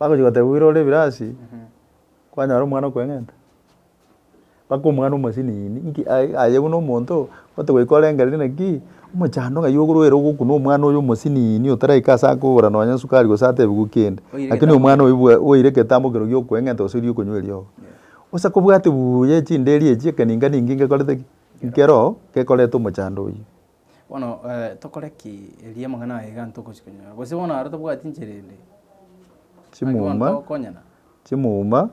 Bagochia goteba oira ore ebirasi kwanyora omwana okweng'enta. Mpaka omwana omosinini nki aye aye buna omonto ote goika orengereri naki omochando ng'ai okoruere ogokuna omwana oyo omosinini otaraika ase akogora nonye sukari gose atebigwe kende. Lakini omwana oyo bwa oire egetambo ekero gia okweng'enta gose erio okonywa eriogo. Bosa kobwate buuya echinderi echi ekeninga ninki ngekorete ki? Nkeroo gekorete omochando oyio. Bono tokore ki? Erio amang'ana aye iga ntogochia konyora. Gose bono aro tobwati enchera ende. Naki bono Chimuma. togokonyana. chimuma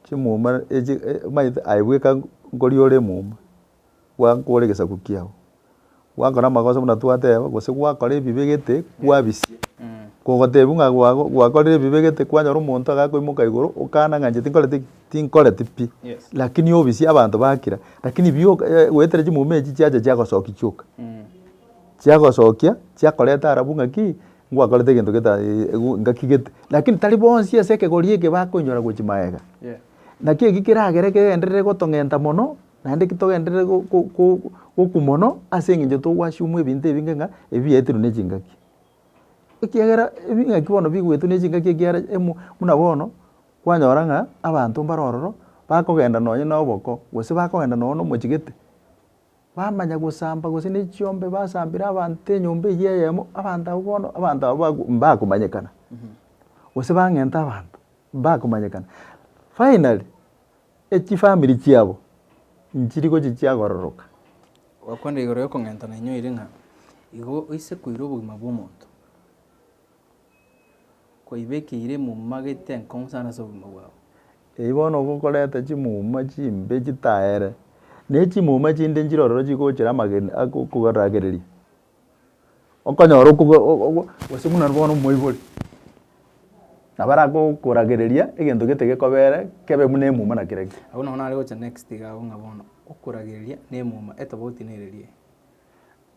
chimuma echi omanyete aye bweka nkoria ore emuma gwankora egesaku kiago gwakora amagoso buna twateba gose gwakora ebibe gete kwabisia kogotebiwa ng'a gwago gwakorire ebibe gete kwanyora omonto agakoimoka igoro okana ng'a inche tinkoreti ki tinkoreti pi, lakini obisia abanto bakira, lakini bi goetera chimuma echi chiacha chiagosoki chioka, chiagosokia chiakoreta ara buna ki, ngwakorete egento geta ngaki gete, lakini tari bonsi ase ekegori eke bakoinyora gochia magega. Naki eki keragere kegenderere gotong'enta mono, naende ki togenderere go go gokwa mono ase eng'encho togwasiomwa ebinto ebinge ng'a ebi biaetirwe ne chingaki. ekiagera ebing'aki bono bigwetwe ne chingaki ekiagera emo buna bono, kwanyora ng'a abanto mbare ororo, bakogenda nonye na oboko, gose bakogenda nonye na omochegete, bamanya gosamba gose na echiombe basambera abanto enyomba eywo eyemo, abanto abwo bono, abanto abwo bago mbakomanyekana, gose bang'enta abanto, mbakomanyekana. Finally. Echifamiri chiabo nchiri gochia chiagororoka. Gwakwenda igoro y'okong'enta nainyoire ng'a igo oise koira obogima bw'omonto, kwaibekeire emuma geita enkong'u sana ase obogima bwao. Eyi bono gokoreta chimuma chimbe chitaere, na echimuma chinde nchirororo chigochera amagena agokoragereria. Okonyora okobo ogo gose buna bono omoibori, nabo aragokoragereria egento gete gekobere kebe buna emuma na kira ki. Agwo nabo nare gocha next iga agwo ng'a bono, okoragereria na emuma etobauti nere eri?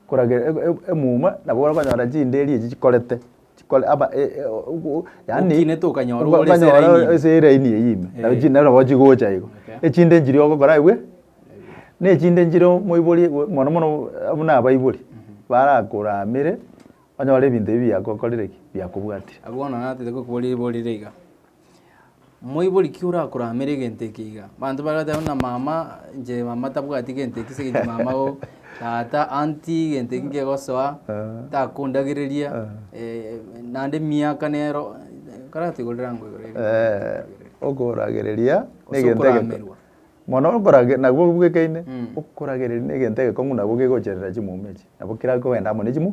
Korage- e- e- emuma nabo okonyora chinderi echi chikorete. chikore aba e- e- o- o- yaani Okinete okanyora oka- ore ase okanyora eraini ime. ase eraini eyio ime Eh. nabi chinde nabo chigocha igo Okay. echinde nchiria ogokora igwe na echinde nchire omoibori igwe mono mono buna abaibori barakoramire onyore ebinto ebi biagokorire ki biakobwatire Abwo bono natete gokobori borire iga. Moibori ki orakoramere egento eke iga? Abanto bagateba buna mama, inche mama tabwati gento eki ase eng'encho mama oo, tata, auntie, gento eki nkegosoa, takondagereria, naende emiaka nero, ekero atoigure rirango igoro erio. okoragereria na Gose egento egeke- okoramerwa. mono okorage- nabwo obwekeine, okoragereria na egento egekong'u nabo gegocherera chimumia echi, nabo kera kogenda amo ne chimwa.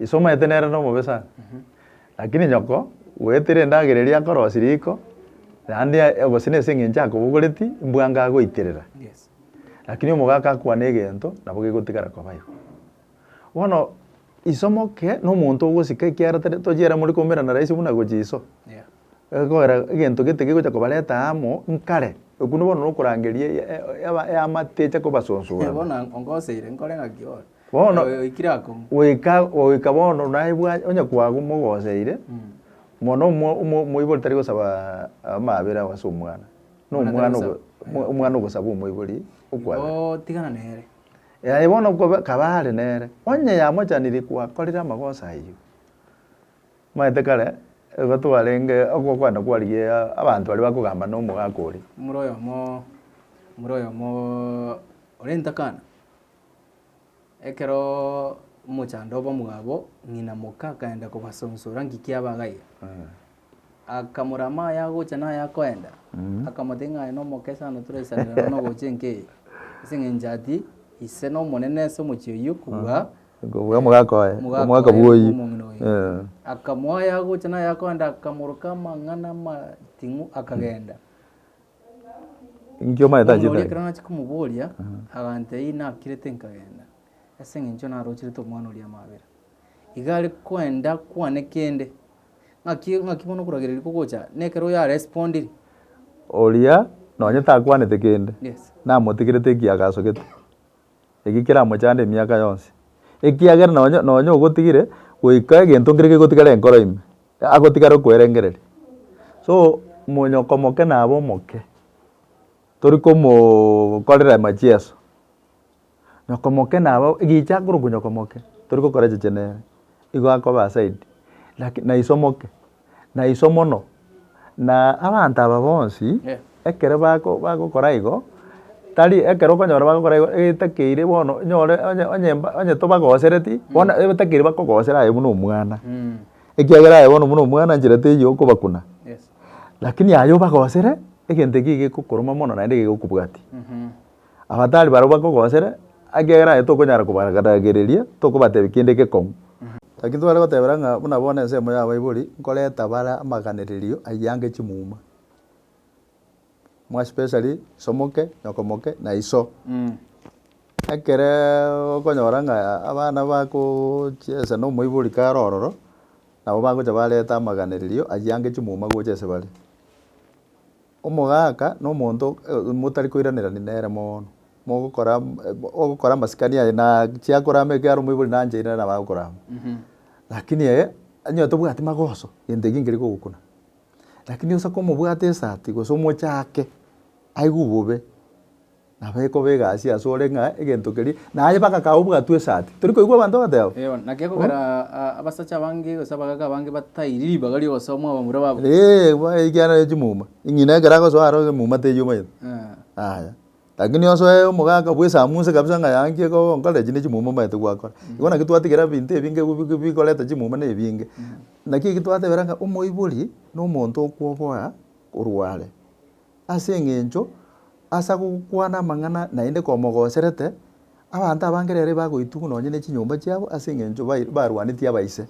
Ise omanyete nere nomobe sana. Lakini nyoko, goetera endagera eria akorosia riko, naende ya- gose nase eng'encho akobogoreti, mbwanga agoiterera. Yes. Lakini omogaka akwane egento, nabo gegotigara koba igo. Bono, iso moke, nomonto ogosika ekiagera tari tochia ere more koumerana rahisi buna gochia iso. Yeah. Egokogera egento gete gegocha kobareta amo nkare. Okwo bono nokorangeria ya- ya- ya- eamate eche kobasonsora. Bono ongoseire, nkore ng'aki bono. Bono Oyo oikire akong'u. goika goika bono naye bwa onye kwago mogoseire mono omo omo omoibori tari gosaba amabera ase omwana na Omwana omwana ogo tarigosaba. mo- omwana ogosaba omoibori okwabera Igo tigana nere. Yaye bono koba kaba are nere onye yamochaniri kwakorire amagoso ayio omanyete kare igo twarenge oko okwenda kwarigia aa abanto baria bakogamba na omogaka oria. Omoro oyomo omoro oyomo orenta kana. Ekero omochando bw'omwabo ng'ina moka akaenda kobasonsora ng'iki abagaire. Akamorama aye agocha na aye akoenda, akamotebia ng'a aye nomoke sana toraisanera nonya ogocha enka eye, ase eng'encho ati, ise nomonene ase omochie oyio kobua Kobua omogaka oye, omogaka omogaka oye bw'oyio. omong'ina oye. Eh. Akamoa aye agocha na aye akoenda, akamoroka amang'ana amating'u akagenda. Inki omanyete Omorwoti oria ekero nachirie komoboria, agantebia, Ei nakirete nkagenda, ase engencho naroocherete omwana oria amabera. Iga are koenda kwane kende, ng'aki ng'aki bono okoragereria kogocha, na ekero oyo arespondire. Oria nonye takwanete kende, Yes. namotigerete ekiaga asogete. eki keramochande emiaka yonsi, ekiagera nonye, nonye ogotigire goika egento nkere kegotigare enkoro ime, agotigare okoerengereria. So, monyoko omoke nabe omoke, tori komookorera machieso, nyoko omoke nabe o, gicha akorokwa nyoko omoke, tori gokora chiche nere, igo akobe aside, laki na ise omoke. na iso mono. Na abanto aba bonsi ekero bagokora igo, tari ekero okonyora bagokora igo etakeire bono onyore onye onye onye tobagosereti bono etakeire bakogosera aye buna omwana ekiagera aye bono buna omwana nchera teiyo okobakuna lakini aye obagosere egento ekio gekokoroma mono naende gekokobwatia. Abatari barabwo bakogosera, ekiagera aye tokonyara kobaragereria, tokobatebia kende gekong'u. Naki tware gotebera ng'a buna bono ensemo y'abaibori nkoreta bare amaganererio aiyange chimuma, more especially isomoke, nyokomoke, na iso. Ekere okonyora ng'a abana bagochia ase nomoibori kare ororo, nabo bagocha bareta amaganererio aiyange chimuma gocha ase bare. Omogaaka nomonto motari koiranerania nere mono, mogokora ogokora amasikani aye na chiakora ime ekiagera omoibori nanchaine nere nabo agokora amo. Lakini eye onye tobwati magoso egento ekiya nkeri kogokuna, lakini osake omobwate esati gose omochake aigwe bobe. Nabekoba egasi asore ng'a egento keria, naye bagakaa obwato esati. Tori koigwa abanto bagateba. Eeh, naki ekogera abasacha abange gose abagaaka abange batairi ribaga ri'ogosoa mwabamura babo. Eeh, bono ekiagera ne chimuma. Eng'ina ekero agosoa aro emuma teri omanyete. Aya, lakini osoe omogaaka bw'esamunse kabisa ng'a yaye nki ekoba onkore echi ne chimuma omanyete gwakora. Igo naki twatigera ebinto ebinge bi- bi- bikoreta chimuma na ebinge. Naki eki twatebera ng'a omoibori, na omonto okwoboa korwa are. Ase engencho ase agokwana amang'ana naende komogoserete, abanto abange rero bagoitugwa nonye ne chinyomba chiabo ase engencho bair barwanetie abaise.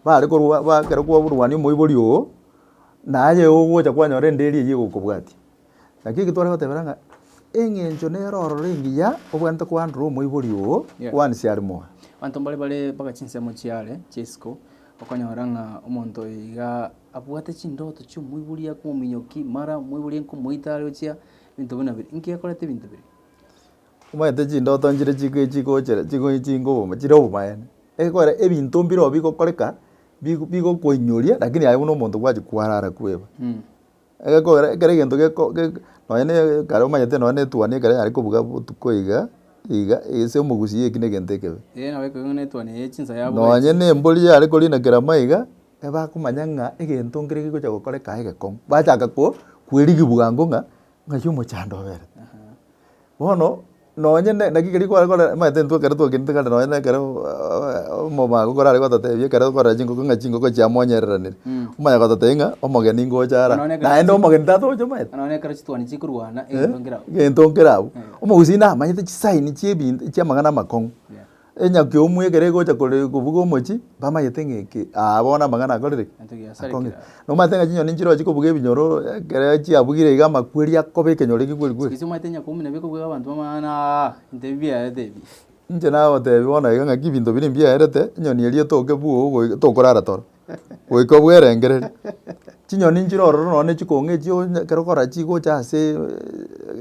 Bare korwa ba ekero kwaburwania omoibori oo, naye ogocha kwanyora enderi eywo egokobwatia. Naki eki tware goteba rero ng'a, eng'encho nero ororo engiya obwenerete koandora omoibori oo Yeah. one siari moyo. Abanto mbare bare mpaka chinsemo chiare chia isiko, okonyora ng'a omonto oyo iga. Abwate chindoto chi'omoibori aka omominyoki, mara omoibori nkomoita are ochia ebinto buna biri. Inki akorete ebinto biria? Omanyete chindoto nchire chiko chikochere chiko chingoboma chire obomaene. Ekekora ebinto mbirobio bigokoreka bigo bigokoinyoria lakini aye buna omonto gwachi kwarara kweba. Egekogera ekero egento geko ge nonye ne ekare omanyete nonye ne etuoni ekero yare kobuga botuko iga iga ase omogusii eki na egento ekebe. Eeh nabo ekero ne etuoni eye chinsa yabuga echi. Nonye ne embori yare korina kerama iga, ebakomanya ng'a egento nkere gegocha gokoreka egekong'u, bachaka ko- kwerigia bwango ng'a ng'ai omochando obere. Bono nonye ne naki keria kware kore omanyete intwe ekero twagenete kare nonye na ekero omobago korare gototebia ekero okorora chingoko ng'a chingoko chia monyereranire, omanye gototebia ng'a omogeni ngocha ara, Nonye ekero- naende omogeni tatogocha omanyete. Ng'a nonye ekero chituoni chikorwana egento nkere abwo. Egento nkere abwo. Omogusii namanyete chisaini chiebinto chiamang'ana amakong'u. Enyakio omwegere egocha kore kobuga omochi, bamayete ng'a eke aa bono amang'ana akorire ki? Egento giasarekire Akong'e. aa. Nomanyete ng'a chinyoni nchiroche kobuga ebinyoro, ekero chiabugire iga amakweri akoba ekenyoro egekweri kweri. Sigisi omanyete enyakio buna bikobuga abanto bamang'ana aa, ebinto ebi biaerete ebi. Inche nagotebi bono iga ng'aki ebinto bire mbiaerete, enyoni eria etoke buu ogoika tokorara toro. goika obwerengereria. Chinyoni nchire ororo nonya chikong'u echi onya ekero okora chigocha asee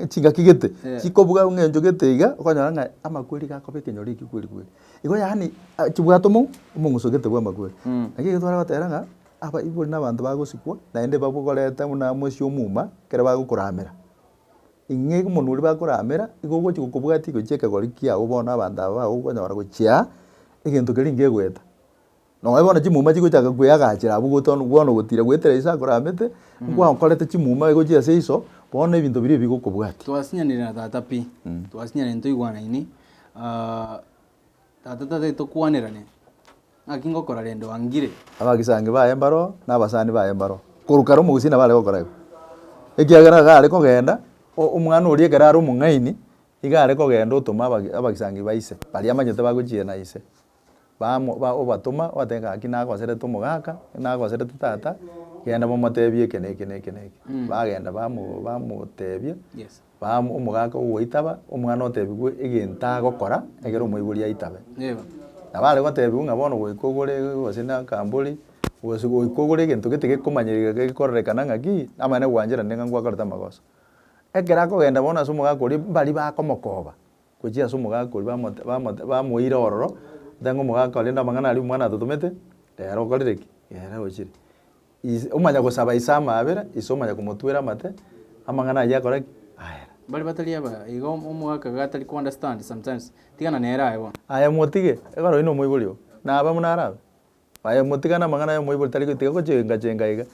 chingaki gete, chikobuga eng'encho gete iga, okonyora ng'a amakweri iga akoba ekenyoro ekio kweri kweri. Igo yaani chibwate omong'u omong'uso gete bwa amakweri. Naki ekero twaragoteera ng'a abaibori na abanto bagosikwa naende babokoreta buna amo ase omuma ekero bagokoramera. Ing'ee omonwe oria bakoramera igo ogochi gokobwatia gochia ekegori kiago bono abanto aba bago okonyora gochia egento keria nkegoeta. Nonya bono chimuma chigochaka kweagachera abwo gotoonwa, bono ogotira goetera Yeso akore aamete, nkwakorete chimuma egochia ase iso, bono ebinto biria ebigokobwatia. Twasinyanire na tata pi, twasinyanire ntoigwanaini, ah, tata tataeti tokwanerane, naki ngokora rende wangire. Abagisangio baye mbaro oo, na abasani baye mbaro oo, korwa kare omogusii nabo are gokora igo, ekiagera iga are kogenda, o- omwana oria ekero are omong'aini, iga are kogenda otoma abage abagisangio ba ise, baria amanyete bagochiera na ise. bamo ba obatoma, obatebie ng'a naki nagoserete omogaka, nagoserete tata, genda momotebie eke na eke na eke na eke. Bagenda bamo bamotebia, Yes. bamo omogaka ogoitaba, omwana otebigwe egento agokora ekero omoibori aitabe. Nigo. Nabo are gotebiwa ng'a bono goika ogore gose na akambori, gose goika ogore egento gete gekomanyereka gete gekororekana ng'a ki, namanya na gwancherane ng'a ngwakorete amagoso. Ekero akogenda bono ase omogaka oria, mbaria bakomokoba. Gochia ase omogaka oria bamot bamot bamoeire ororo, oteba ng'a omogaka oria rende amang'ana aria omwana atotomete, ere okorire ki? Ere ochire. Is omanya gosaba ise amaabera, ise omanya komotwera amate, amang'ana ayio akore ki? Aera. Baria batari aba, iga omo omogaka iga atari ko understand sometimes, tigana nere aye bono. Aye motige, ekero oyio nomoibori oo, naba buna arabe. Aye motigane amang'ana y'omoibori tari gotiga gochenga chenga iga.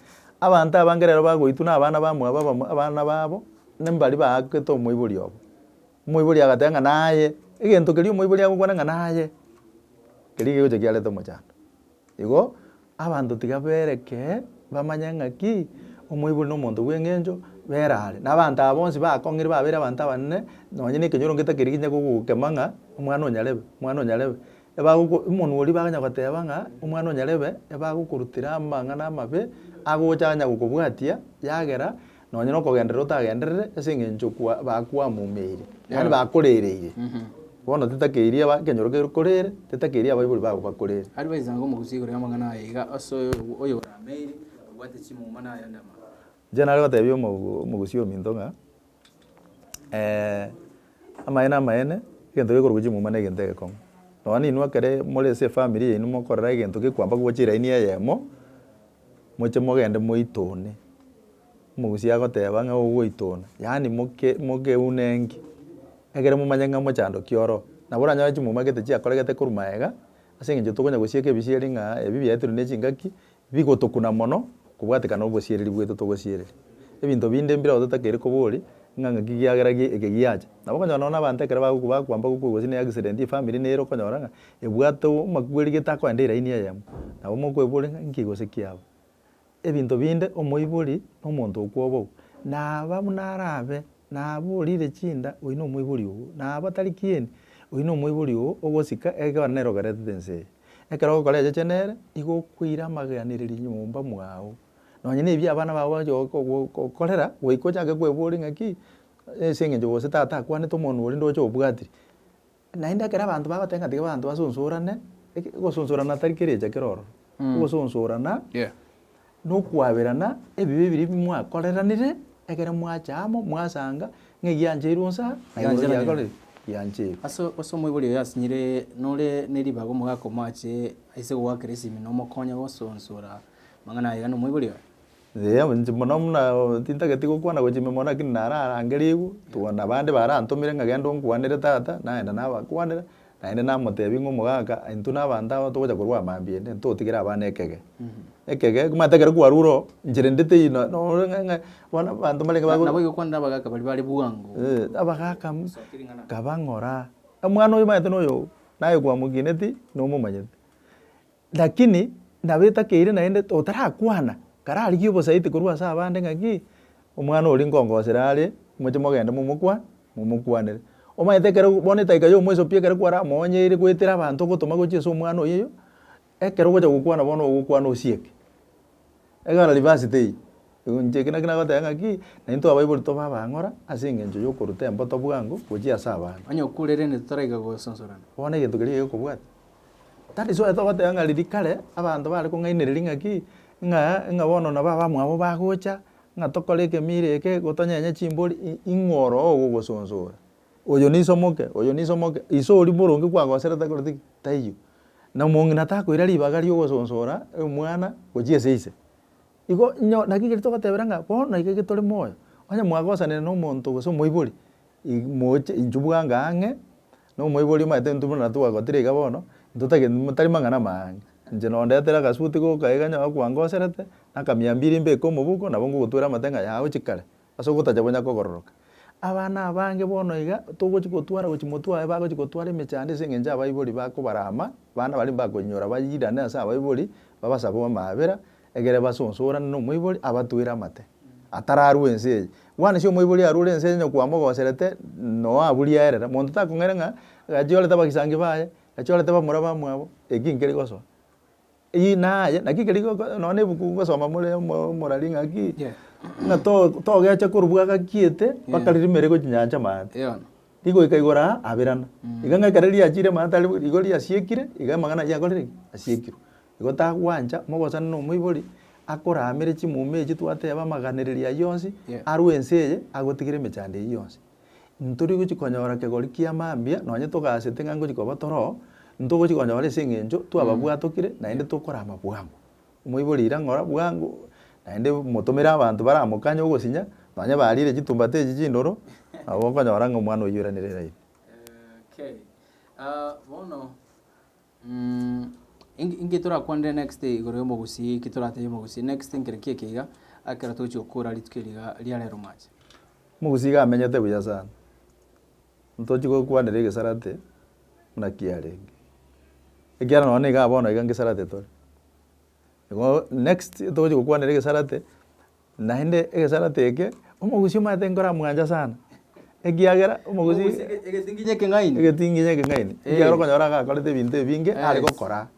Abanto abange rero bagoitwa na abana ba mwabo abamo abana babo nimbari baakete omoibori obo. Omoibori agateba ng'a naye, egento keria omoibori agokwana ng'a naye, keria kegocha kiarete omochando. Igo abanto tiga bereke bamanye ng'aki, omoibori na omonto bw'eng'encho bera are. Na abanto aba bonsi bakong'ire babeire abanto abanene, nonye na ekenyoro ngetakeri ginya gogokema ng'a omwana o nyarebe, omwana o nyarebe. Ebagoko, omonwa oria baganya goteba ng'a omwana o Nyarebe ebagokorutera amang'ana amabe agocha anya gokobwatia, yagera nonye nokogenderera otagenderere ase eng'encho kwa bakwamomeire, yaani bakorereire. Bono tetakeirie aba ekenyoro kekorere, tetakeirie abaibori babo bakorere. Aria baisaga omogusu igoro y'amang'ana aya iga ase oyo oyorameire, obwate chimuma na ayande amang'ana. Inche nare gotebia omo omogusu ominto ng'a. Amaene amaene, egento gekorokwa chimuma na egento egekong'u. Nonya na inwe ekere more ase efamiri yaino mokorora egento gekwamba kobochie elaini eyemo, moche mogende moitone, omogusia agoteba ng'a igo goitona, yaani moke mokeune enki, ekere momanye ng'a mochandoki oroo. Nabo oranyore chimuma gete chiakoregete korwa magega, ase eng'encho tokonya gosieka ebisieri ng'a ebi biaetirwe na echingaki, Bigotokuna mono kobwatekana obosiereri bwaito togosiereria ebinto binde mbireo totakeire kobori ng'a ng'aki giagera gie eke giacha. Nabo okonyora nonya abanto ekero bagokwa bakwamba gokwa gose ne accident ye family nere okonyora ng'a ebwate omakugeri getakoenda eraini eyemo. Nabo mokoebori ng'a nki gose ki aba. Ebinto binde omoibori na omonto okwobogwa naba buna arabe naba orire chinda oyio na omoibori oo naba tari kieni oyio na omoibori oo ogosika ekero nere oberetete ense eye. Ekero okorecheche nere, nigo okoira amaganererio nyomba mwao. Nonye na ebi abana bao bagochia gogo- gogo- gokorera, goika ochake kweboria ng'aki, ase eng'encho gose tata akwanete omonwe oria ndoche obwatiri. Naende ekero abanto bagoteba ng'a tiga abanto basunsurane, eke ogosunsurana tari kera echa kera ororo, ogosunsurana. nokwaberana ebibe biria bimwakoreranire ekero mwacha amo, mwasanga, ng'a eye yancheirwe onsi aa, na igoro Yancherwa riakorire ki? Yancheirwe. Ase ase omoibori oyo asinyire, nore neribaga omogaka omoache aise gogoakera esimi na omokonya gosunsura amang'ana aye gane omoibori oye. Eeh, inche mono buna tintageti gokwana gochia ime mono lakini nararangerie igwe, togana abande barantomire ng'a genda onkwanere tata, nagenda nabakwanera. Naende namoteebia ng'a omogaka, intwe na abanto aba togocha korwa amambia ende, ntotigere abana ekege. Ekege, manyete ekero kwarure oo, enchera ende teiyo no- norore ng'a- ng'a bono abanto mbarenge bago- Nabo igokwana abagaka baria bare bwango. Eh, abagaka mm, nkaba ng'ora, omwana oyo omanyete noyo, naye kwamokineti, nomomanyete. Lakini nabo etakeire naende otarakwana kararigie obosaiti korwa ase abande ng'a ki, omwana oria nkongosera are, moche mogende momokwa, momokwanere. Omanyete ekero bono edaika ya omoisopia ekero kwaramoonyeire goetera abanto ogotoma gochia ase omwana oyio, ekero ogocha gokwana bono ogokwana osieke. Egana reverse tei, inche eki naki nagoteba ng'a ki, na intwe abaibori tobe abang'ora ase engencho y'okoruta emboto bwango gochia ase abande. Onye okuurerende toraika gososorana. Bono egento keria gekobwata. That is why togoteba ng'a riria kare, abanto bare kong'ainereria ng'a ki, ng'a ng'a bono nabo abamwabo bagocha, ng'a tokore ekemira eke, gotonyenye chimbori, i- ing'o oroo ogogosonsora? oyo niso omoke, oyo niso omoke, iso oria boronge kwagoserete akoreti ki? Taiyo. Na omong'ina takoira ribaga ri'ogosonsora omwana gochia ase ise. Igo inyo naki ekeri togotebera ng'a bono iga iga tore moyo, onye mwagosanire na omonto gose omoibori, ig moche inchuo bwango ang'e, na omoibori omanyete intwe buna twagotire iga bono, ntotagete motari mang'ana amange. Inche no ondetere agasuti goka iga onye okwangoserete, na akamiambiri mbeke omoboko, nabo ngogotwera amate ng'a yaya ochi kare, Ase ogotacha konya kogororoka, abana abange bono iga togochi gotwara gochi motwae bagochi gotwara emechando ase engencho abaibori bakobarama, abana baria mbakoinyora bairane ase abaibori, babasabe amaabera, egere basonsorane nomoibori abatwere amate, atararue ense eye. Bwana ase omoibori arure ense eye onye kwamogoserete noo aburie aerera, monto takong'aina ng'a gachorete abagisangi baye, gachorete bamura bamwabo, eki nkeri gosoa. Eyio naye, naki keri goko nonya nebuku gosoma more omo omorari ng'aki, ng'a to togecha korwa bwagakiete, mpaka riria rime rigwe chinyancha maate. Rigoika igoro aa, abirana. Iga ng'a ekero riachire maate aria igo riasiekire, iga amang'ana ayio yakorire ki? Asiekirwe. Igo tagwancha, mogosana na omoibori, akoramere chimuma echi twateba, amaganeririo ayio yonsi, arue ense eye, agotigire emechando eyio yonsi. Ntori gochia konyora kegori kia mambia, nonye togasete ng'a ngochia koba toro, ntogochia konyora ase eng'encho twababwatokire naende tokorama bwango. Omoibori ira ng'ora bwango, naende motomere abanto baramokanye ogosinya, nonye bariire chitumbata echi chindoro, nabo okonyora ng'a omwana oyio oiranire raini. Inki inki torakwanere next igoro y'omogusii, ki toratebie omogusii next nkere ki eke iga, ekero togochia gokora rituko eri iga ria rero mwache? Omogusii iga amenyete buya sana, ntochi gokwanera egesarate buna kiarenge, ekiagera nonye niga bono iga ngesarate tore. Igo next togochia gokwanera egesarate. Naende egesarate eke omogusi omanyete nkoramwancha sana, ekiagera omogusi. Omogusi ege- egetinginyi ekeng'aini. Egetinginyi ekeng'aini, Eh. ekiagera okonyora ng'a akorete ebinto ebinge Yes. are gokora.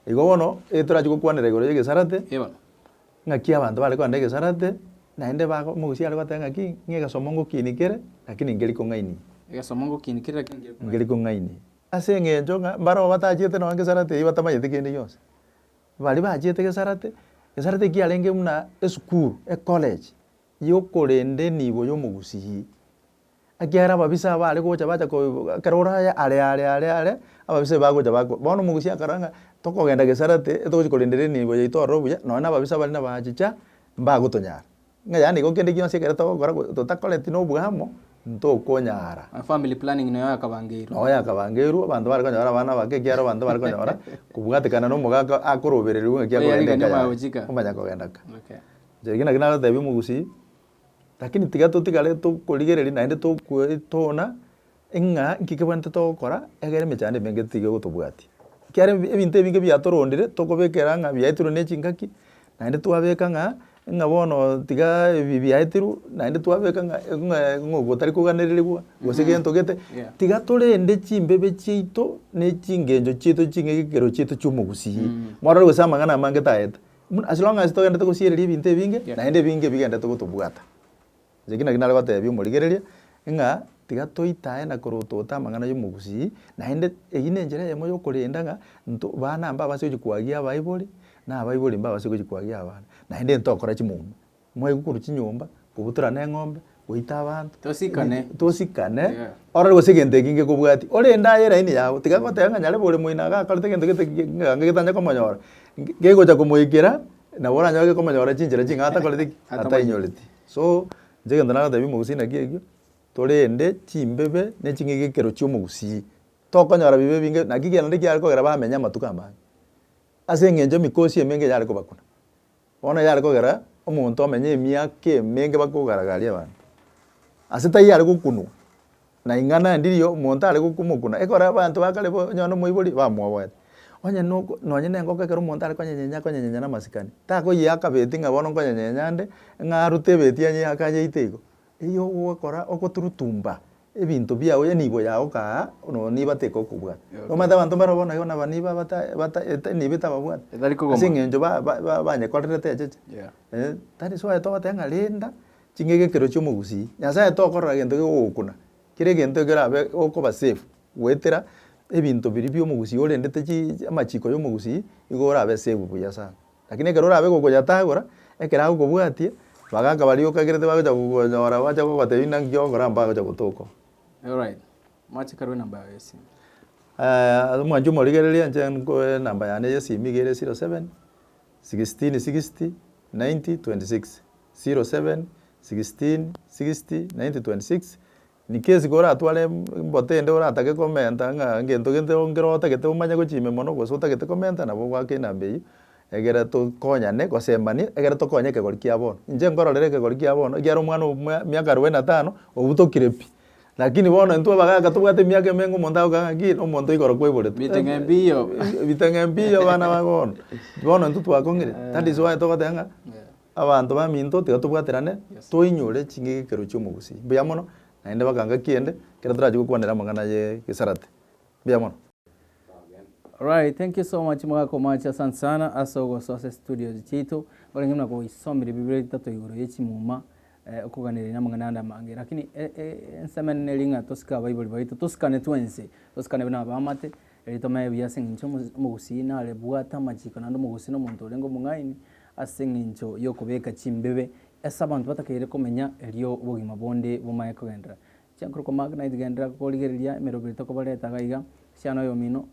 Igo bono, ege torachi gokwanera igoro y'egesarate, Eh, bono. ng'aki abanto bare kogenda egesarate, naende bago omogusi are goteba ng'aki, ng'a egesomo ngokiini kere, lakini nkeri kong'ainie. Egesomo ngokiini kere lakini nkeri kong'ainie. Nkeri kong'ainie. Ase eng'encho ng'a, mbarabwo batachete nonye ngesarate eyio batamanyeti kende gionsi. Baria bachete Gesarate, Gesarate eki yarenge buna esukuru, ecollege, yokorende nigo yomogusii. Ekiagera ababisa aba are gocha bacha ko ekero oraye are are are are, ababisa aba bagocha bako bono omogusii akarora ng'a tokogenda Gesarate, etogochia korenderi enibo yaito ororo buya, nonya na ababisa baria nabachicha, mbagotonyara. ng'a yaani igo kende gionsi ekero togokora go- totakoreti na oboamo, ntokonyara. Family planning noyo yakabangeirwe. Noyo yakabangeirwe, abanto bare konyora abana abake ekiagera abanto bare konyora kobwatekana na omogaka akorobererigwe ng'aki Oyo akogenda arigania eka yaye, omagochika. omanya kogenda ka. Okay. Inche ekio naki nagotebia omogusii, lakini tiga totigare tokorigereria naende tokoetona. ng'a nki kebwenerete togokora egere emechando emenge tiga egotobwatia. Ekiara ebi ebinto ebinge biatorondire tokobekera ng'a biaetirwe ne chingaki, naende twabeka ng'a ng'a bono tiga ebi biaetirwe, naende twabeka ng'a ng'ae ng'a gotari koganererigwa gose gento gete, tiga torende chimbebe chiaito ne chingencho chiaito ching'ai gekero chiaito chia omogusii, morore gose amang'ana amange tayete, buna as long as togenderete gosiereria ebinto ebinge naende ebinge ebigenderete gotobwata. Inche ekio nakio nare goteebia omorigereria, ng'a tiga toitae na korotote amang'ana y'omogusii, naende eyio nenchera eyemo y'okorenda ng'a nto baana mbabase gochia kwagia abaibori, na abaibori mbabase gochia kwagia abana, naende ntokora chimwamu. Mwaigwa korwa chinyomba, kobutorana eng'ombe, goita abanto. Tosikane. Tosikane, Yeah. orore gose egento eki ngekobwatia, orende aye eraini yabo, tiga goteba ng'a nyare bore moino iga akorete egento gete gi- gi- iga getanya komonyora, nge- gegocha komoikera, nabo oranyore komonyora chinchera ching'ao atakoreti ki? Atainyoreti. So, inche egento nagotebia omogusii naki ekio, torende chimbebe ne ching'aki ekero chia omogusii, tokonyora bibe ebinge, naki kende kiare kogera bamenye amatuko amange, ase eng'encho emikosi emenge eyare kobakuna. Bono eyare kogera omonto omenye emiaka emenge bakogaragaria abanto, ase taiyo are gokunwa. Na ing'ana endirio omonto are gokumokuna, ekore abanto ba kare bo onye nomoibori, bamwoboete. Onye noko nonye nengoko ekero omonto are konyenyenya akonyenyenya namasikani, takoyiaka beti ng'a bono nkonyenyenyenya nde, ng'a arute ebeti anyiake anyeite igo. Eyio ogokora ogoturutumba ebinto biao ya nibo yao kaa nonya nibo ateka okobwata. Omanyete abanto mbare bono igo naba nibo abata bata ete nibo etababwati, Etari kogoma. aseng'encho ba ba ba banyekorerete echeche. Yeah. Eeh, that is why togoteba ng'a rinda ching'ege ekero chi'omogusii, Nyasaye tokorora gento kegogokuna, kera egento ekerabe okoba safe goetera ebinto biria bi'omogusii orendete chii amachiko y'omogusii igo orabe safe buya sana. Lakini ekero orabe gokoyatagora, ekero agokobwatia, bagaka baria okagerete bagocha gokonyora bache gogotebia ng'a nki ogokora mpagocha gotoka oo. Alright, mwache karue namba yago y'esimo. Aya omwancho omorigereria inche nkoe enamba yane y'esimi iga ere zero seven, sixteen sixty, ninety twenty six. 07 16 60 90 26 Niki esiko oratware embote ende oratake komenta ng'a ngento gento nkero otagete omanye gochime mono gose otagete komenta nabo ogwake enamba eyio egere tokonyane gosembanie egere tokonye ekegori kia bono. Inche nkororera ekegori kia bono ekiara omwana oyo mwa miaka arubaini na tano obutokire pi lakini bono intwe abagaka tobwate emiaka emenge omonto agoka ng'a nki omonto igoro kwaiboretwe Ebiteng'e mbiyo. ebiteng'e mbiyo abana ba bono. Bono intwe twakong'ire that is why togoteba ng'a Abanto baminto tiga tobwaterane, toinyore ching'ege ekero chi'omogusii. Mbuya mono, naende bakanga kiende, ekero torache gokwanera amang'ana ye gesarate. Mbuya mono. Alright thank you so much mogaka omoachi asante sana ase ogosoa ase studios chiaito orenge buna goisomire biburi ritato igoro ye chimuma eh, okoganera ina amang'ana ande amange lakini e, e, ensemo enene eri ng'a tosike abaibori baito tosikane twense tosikane buna abamate eri tomanye buya ase eng'encho omo- omogusii nare bwate amachiko naende omogusii na omonto orenge omong'aini Ase engencho y'okobeka chimbibe ase abanto batakaire komenya, erio obogima bonde bomaye kogenderera. Chiankorokwa Magnite Genderera Korigereria Emerobera Tokobareta Gaiga, Siana Oyomino,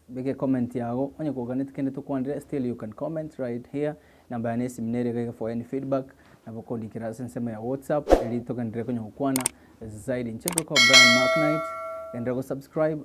Beka Ecomment Yago, Onye Koganeti Kende Tokwanire Still You Can Comment Right Here, Namba Yane Yesimi Nere Gaiga For Any Feedback, Nabo Kondikera Ase Ensemo Ya WhatsApp Erio Togenderere Konya Gokwana Zaidi Nche Korokwa Brian Magnite, Genderera Gosubscribe,